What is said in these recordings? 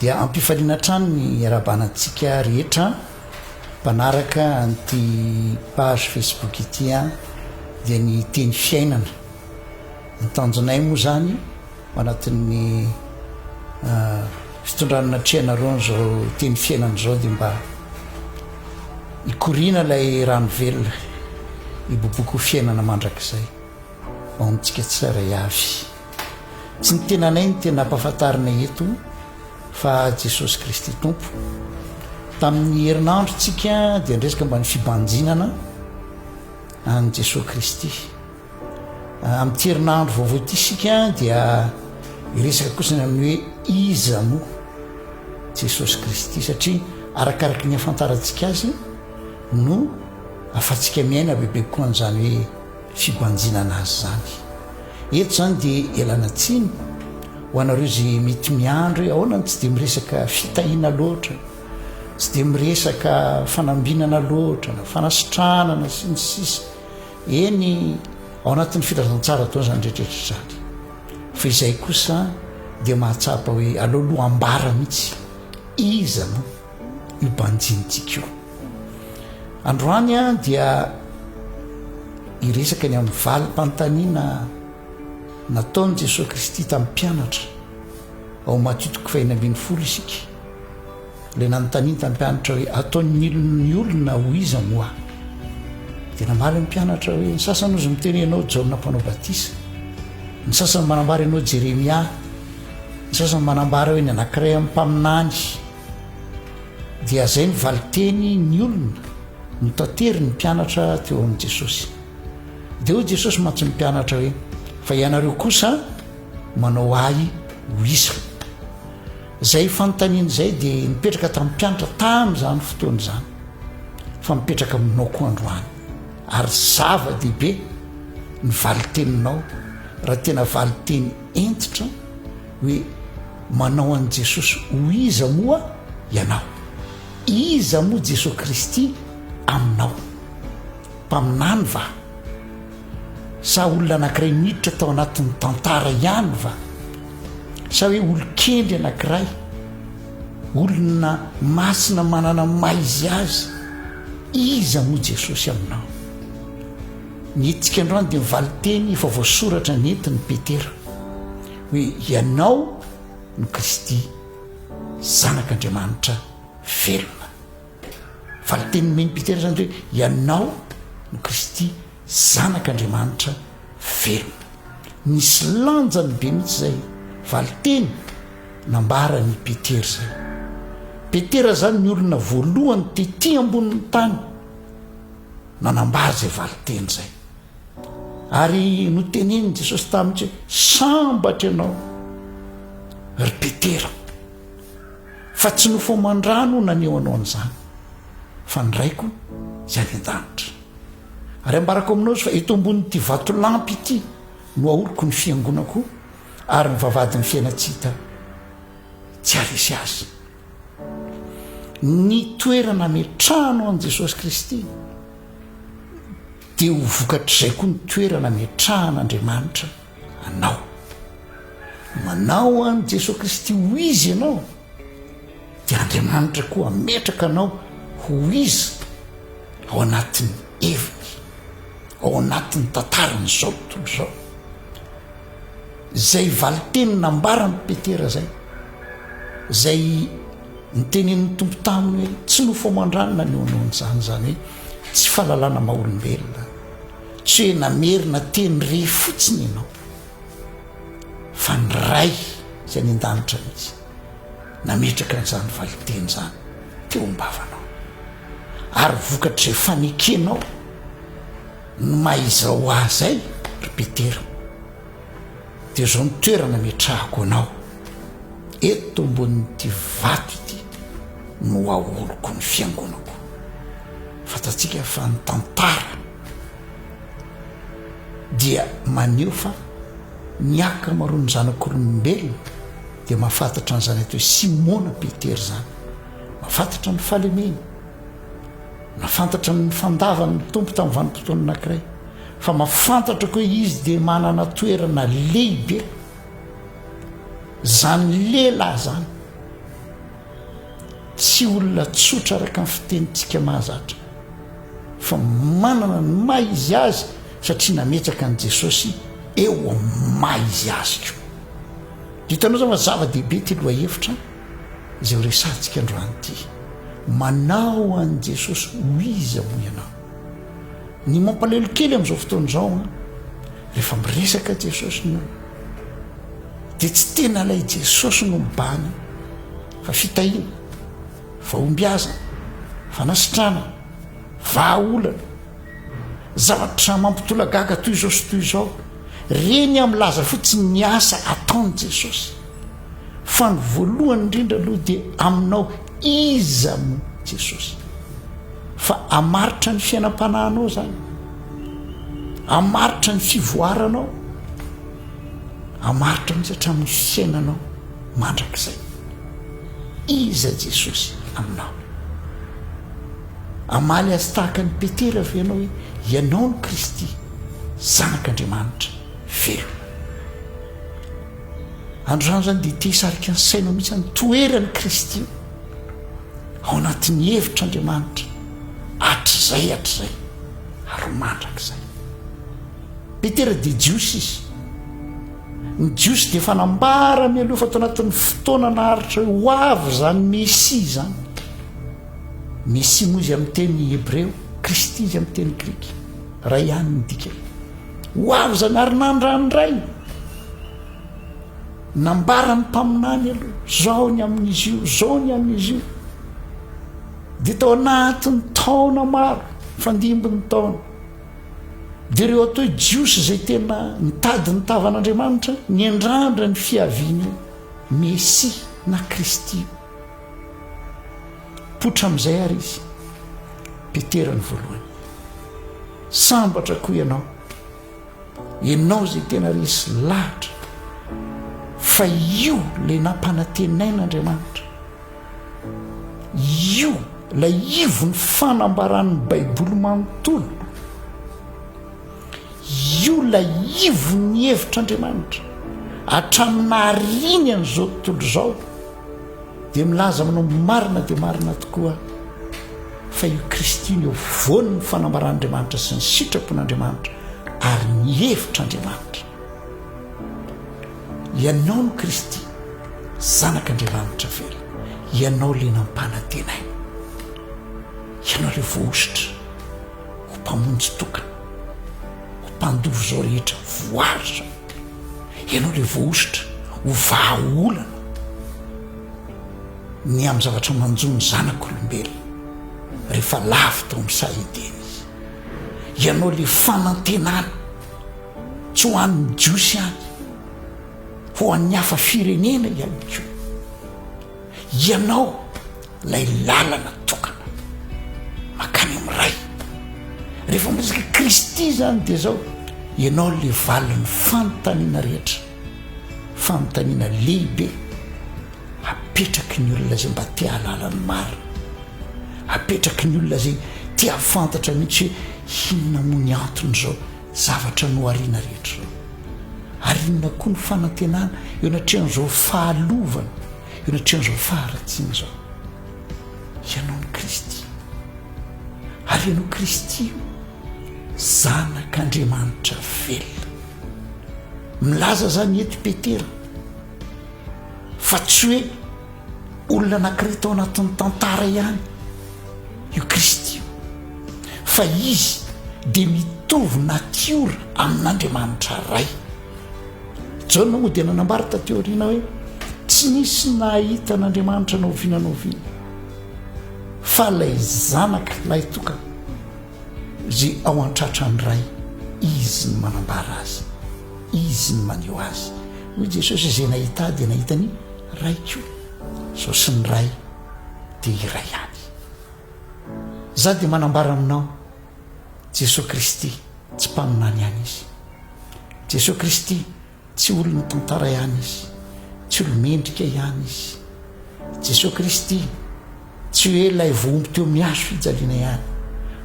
Dia ampifaliana hatrany ny iarahabana antsika rehetra mpanaraka an'ity page Facebook ity an, dia ny teny fiainana. Ny tanjonay moa zany ao anatin'ny fitondrana natrehanareo an'izao teny fiainana izao dia mba hikoriana ilay rano velona, hiboboka ho fiainana mandrakizay ao amintsika tsirairay avy. Tsy ny tenanay no tena ampahafantarina eto fa Jesosy Kristy Tompo. Tamin'ny herinandrontsika dia niresaka mba ny fibanjinana an'i Jesosy Kristy. Amin'ity herinandro vaovao ity isika dia hiresaka kosa ny amin'ny hoe iza moa Jesosy Kristy satria arakaraky ny afantarantsika azy no afatsika miaina bebe koa an'izany hoe fibanjinana azy izany. Eto izany dia ialana tsiny ho anareo izay mety miandry hoe ahoana no tsy dia miresaka fitahiana loatra, tsy dia miresaka fanambinana loatra na fanasitranana sy ny sisa. Eny, ao anatin'ny filazantsara ataony izany rehetrarehetra izany. Fa izay kosa dia mahatsapa hoe aleoloha ambara mihitsy iza no io banjintsika io. Androany dia hiresaka ny amin'ny valim-panontaniana nataon'i Jesoa Kristy tamin'ny mpianatra. Ao Matio toko fahina ambin'ny folo isika. Ilay nanontaniany tamin'ny mpianatra hoe ataon'ny olon'ny olona ho iza moa? Dia namaly ny mpianatra hoe ny sasany ozy miteny ianao Jaona mpanao batisa, ny sasany manambara ianao Jeremia, ny sasany manambara hoe ny anankiray amin'ny mpaminany. Dia zay ny valinteny ny olona no tatery ny mpianatra teo amin'i Jesosy. Dia hoy Jesosy mantsy ny mpianatra hoe, fa ianareo kosa manao ahy ho isa. Zay fanontaniana zay dia nipetraka tamin'ny mpianatra tamin'izany fotoana izany, fa mipetraka aminao koa androany. Ary zava-dehibe ny valin-teninao raha tena valin-teny hentitra, Hoe manao an'i Jesosy ho iza moa ianao? Iza moa Jesosy Kristy aminao? Mpaminany va? Sa olona anankiray miditra tao anatin'ny tantara ihany va? Sa hoe olon-kendry anankiray? Olona masina manana ny maha izy azy? Iza moa Jesosy aminao? Ny hetsika androany dia ny valinteny efa voasoratra nentin'i Petera. Hoe ianao no Kristy, Zanak'Andriamanitra velona. Valin-teny nomen'i Petera izany hoe ianao no Kristy, Zanak'Andriamanitra velona. Nisy lanjany be mihitsy izay valin-teny nambaran'i Petera izay. Petera izany ny olona voalohany tety ambonin'ny tany nanambara izay valin-teny izay. Ary notenenin'i Jesosy taminy hoe, Sambatra ianao, ry Petera, fa tsy nofo aman-drà no naneho anao an'izany, fa ny Raiko izay any an-danitra. Ary ambarako aminao izy fa eto ambonin'ity vatolampy ity no ahoriko ny fiangonako, ary ny vavahadin'ny fiaina tsy hita tsy haharesy azy. Ny toerana ametrahanao an'i Jesosy Kristy Dia ho vokatr'izay koa ny toerana ametrahan'Andriamanitra anao. Manao an'i Jesoa Kristy ho izy ianao, dia Andriamanitra koa hametraka anao ho izy ao anatin'ny heviny, ao anatin'ny tantaran'izao tontolo izao. Izay valinteny nambaran'i Petera izay, izay nitenenin'ny Tompo taminy hoe tsy nofo aman-dranona ny eo anao an'izany, izany hoe Tsy fahalalana maha olombelona, tsy hoe namerina teny re fotsiny ianao, fa ny Ray izay any an-danitra mihitsy nametraka an'izany valinteny izany teo am-bavanao, ary vokatr'izay fanekenao ny maha iza ho ahy izay, ry Petera. Dia izao ny toerana ametrahako anao, eto ambonin'ity vato ity no aoriko ny fiangonako. Fantatsika fa ny tantara dia maneho fa ny ankamaroan'ny zanak'olombelona dia mahafantatra an'izany atao hoe Simona Petera izany, mahafantatra ny fahalemeny. Nafantatra ny fandavany ny Tompo tamin'ny vanim-potoana anankiray, fa mahafantatrako hoe izy dia manana toerana lehibe. Izany lehilahy izany, tsy olona tsotra araka ny fitenintsika mahazatra, fa manana ny maha izy azy satria nametraka an'i Jesosy eo amin'ny maha izy azy koa. Hitanao izany fa zava-dehibe ity lohahevitra. Izay ho resahantsika androany ity, manao an'i Jesosy ho iza hono ianao? Ny mampalahelo kely amin'izao fotoana izao an, rehefa miresaka Jesosy ny olona, dia tsy tena ilay Jesosy no mibahana, fa fitahiana, fahombiazana, fanasitranana, vahaolana, zavatra mampitolagaga toy izao sy toy izao. Ireny milaza fotsiny ny asa ataon'i Jesosy. Fa ny voalohany indrindra aloha dia aminao iza no Jesosy. Fa hamaritra ny fiainam-panahinao izany, hamaritra ny fivoaranao, hamaritra mihitsy hatramin'ny fiainanao mandrakizay. Iza Jesosy aminao? Hamaly azy tahaka ny Petera ve ianao hoe ianao no Kristy, Zanak'Andriamanitra velona? Androany izany dia te hisarika ny sainao mihitsy ny toeran'i Kristy ao anatin'ny hevitr'Andriamanitra hatrizay hatrizay ary mandrakizay. Petera dia Jiosy izy. Ny Jiosy dia efa nambara mialoha fa tao anatin'ny fotoana naharitra hoe ho avy izany Mesia izany. Mesia moa izy amin'ny teny hebreo, Kristy izy amin'ny teny grika. Raha ihany ny dikany. Ho avy zany ary nandrandrainy nambaran'ny mpaminany aloha zao ny amin'izy io zao ny amin'izy io dia tao anatin'ny taona maro fandimbin'ny taona dia ireo atao hoe jiosy izay tena nitady ny tavan'andriamanitra ny endrandra ny fiavian'io messi na kristy potra amin'izay ary izy petera ny voalohany Sambatra koa ianao, ianao izay tena resy lahatra fa io ilay nampanantenain' Andriamanitra, io ilay ivon'ny fanambaran'ny Baiboly manontolo, io ilay ivon'ny hevitr'Andriamanitra hatramin'ny nahariany an'izao tontolo izao. Dia milaza aminao marina dia marina tokoa fa io Kristy no eo afovoany ny fanambaran'Andriamanitra sy ny sitrapon'Andriamanitra ary ny hevitr'Andriamanitra. Ianao no Kristy, Zanak'Andriamanitra very. Ianao le nampanantenaina. Ianao le voahosotra ho mpamonjy tokana, ho mpandova izao rehetra voaritra. Ianao ilay voahosotra ho vahaolana ny amin'ny zavatra manjo ny zanak'olombelona rehefa lavo tao amin'ny saha Edena izy. Ianao ilay fanantenana tsy ho an'ny Jiosy ihany, ho an'ny hafa firenena ihany koa. Ianao ilay lalana tokana makany amin'ny Ray. Rehefa miresaka Kristy izany dia izao, Ianao ilay valin'ny fanontaniana rehetra, fanontaniana lehibe apetraky ny olona izay mba te hahalala ny marina, apetraky ny olona izay te hahafantatra mihitsy hoe inona moa ny antony izao Zavatra nohariana rehetra izao. Ary inona koa no fanantenana eo anatrehan'izao fahalovana, eo anatrehan'izao faharatsiana izao? Ianao no Kristy. Ary ianao Kristy io, Zanak'Andriamanitra velona. Milaza izany eto i Petera, fa tsy hoe. Olona anankiray tao anatin'ny tantara ihany io Kristy io, fa izy dia mitovy natiora amin'Andriamanitra Ray. Jaona moa dia nanambara taty aoriana hoe tsy nisy nahita an'Andriamanitra na oviana na oviana, fa ilay zanaka lahitokana Ry ao an-tratran'ny Ray, Izy no manambara Azy, Izy no maneho Azy. Hoy Jesosy, Izay nahita Ahy dia nahita ny Ray koa. Izaho sy ny Ray dia iray ihany. Izaho dia manambara aminao, Jesosy Kristy, tsy mpaminany ihany Izy. Jesosy Kristy, Tsy olona tantara ihany izy, tsy olo-mendrika ihany izy. Jesoa Kristy, tsy hoe ilay vohombo teo amin'ny hazo fijaliana ihany,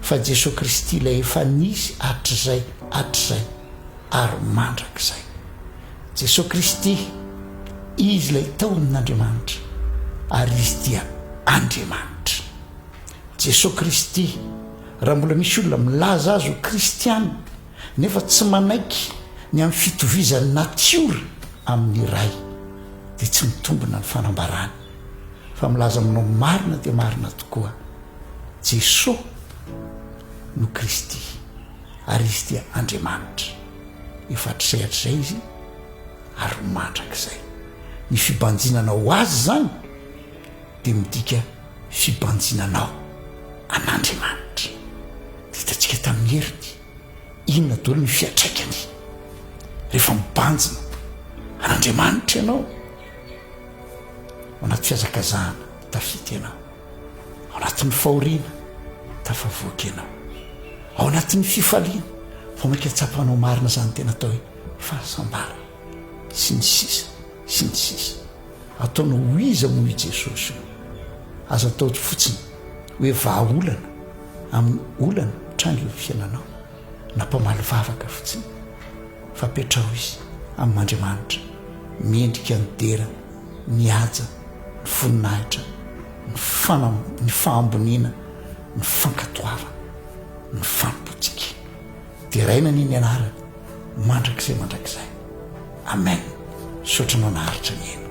fa Jesoa Kristy ilay efa nisy hatrizay, hatrizay, ary mandrakizay. Jesoa Kristy, Izy ilay tao amin'Andriamanitra, ary Izy dia Andriamanitra. Jesoa Kristy, raha mbola misy olona milaza azy ho kristiana, nefa tsy manaiky ny amin'ny fitovizan'ny natiora amin'ny Ray, dia tsy mitombina ny fanambarany fa milaza aminao marina dia marina tokoa, Jesoa no Kristy ary Izy dia Andriamanitra. Efa hatrizay hatrizay Izy ary mandrakizay. Ny fibanjinana ho Azy izany. dia midika fibanjinanao an'Andriamanitra. Dia hitantsika tamin'ny heriny inona daholo ny fiantraikany rehefa mibanjina an'Andriamanitra ianao. Ao anaty fihazakazahana tafita ianao, ao anatin'ny fahoriana tafavoaka ianao, ao anatin'ny fifaliana vao mainka tsapanao marina izany tena atao hoe fahasambarana. Sy ny sisa, sy ny sisa. Ataonao ho iza moa i Jesosy io? Aza atao fotsiny hoe vahaolana amin'ny olana mitranga eo amin'ny fiainanao, na mpamaly vavaka fotsiny, fa apetraho izy amin'Andriamanitra, mendrika ny dera, ny haja, ny voninahitra, ny fanam, ny fahamboniana, ny fankatoavana, ny fanompoantsika. Deraina anie ny anarany mandrakizay mandrakizay Amen misaotra anao naharitra nihaino.